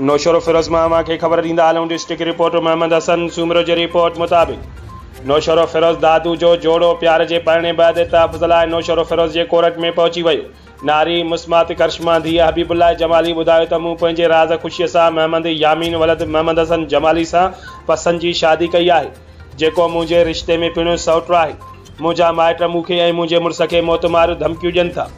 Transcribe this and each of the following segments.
نوشهروفيروز مان اوهان کي خبر ڏيندا هلون ڊسٽرڪٽ رپورٽر محمد حسن سومرو جي رپورٽ مطابق نوشهروفيروز دادو جو جوڙو پيار جي پرڻي بعد تحفظ لاء نوشهروفيروز جي ڪورٽ ۾ پهچي ويو ناري مسمات ڪرشما ڌيء حبيب الله جمالي ٻڌايو ته مون پنهنجي راز خوشي سان محمد يامين ولد محمد حسن جمالي سان پسند جي شادي ڪئي آهي جيڪو منهنجي رشتي ۾ پڻهيون سئوٽ آهي منهنجا مائٽ مون کي ۽ منهنجي مڙس کي موت ماريون ڌمڪيون ڏين ٿا.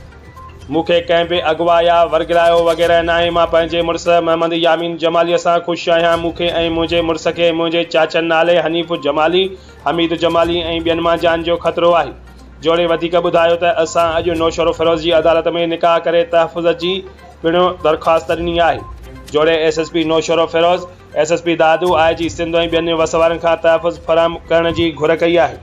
مون کي ڪنهن به اغوا يا ورغلايو وغيره ناهي. مان پنهنجي مڙس محمد يامين جماليء سان خوش آهيان. مون کي ۽ منهنجي مڙس کي منهنجي چاچن نالي حنيف جمالي، حميد جمالي ۽ ٻين مان جان جو خطرو آهي. جوڻي وڌيڪ ٻڌايو ته اسان اڄ نوشهروفيروز جي عدالت ۾ نڪاح ڪري تحفظ جي پڻ درخواست ڏني آهي. جوڻي S S P Naushahro Feroze, S S P Dadu, I G Sindh ۽ ٻين وس وارن کان تحفظ فراهم ڪرڻ جي گهر ڪئي آهي.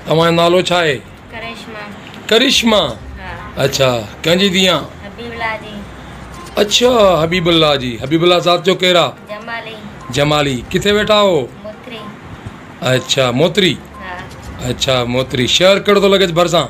توهان جو نالو ڇا آهي؟ ڪرشما. ڪرشما؟ ها. اڇا ڪنهن جي ڌيء آن؟ حبيب الله جي. اڇا حبيب الله جي. حبيب الله ذات جو ڪير آ؟ جمالي. جمالي ڪٿي ويٺا آهو؟ موتري. اڇا موتري. ها. اڇا موتري شهر ڪهڙو ٿو لڳيس ڀرسان؟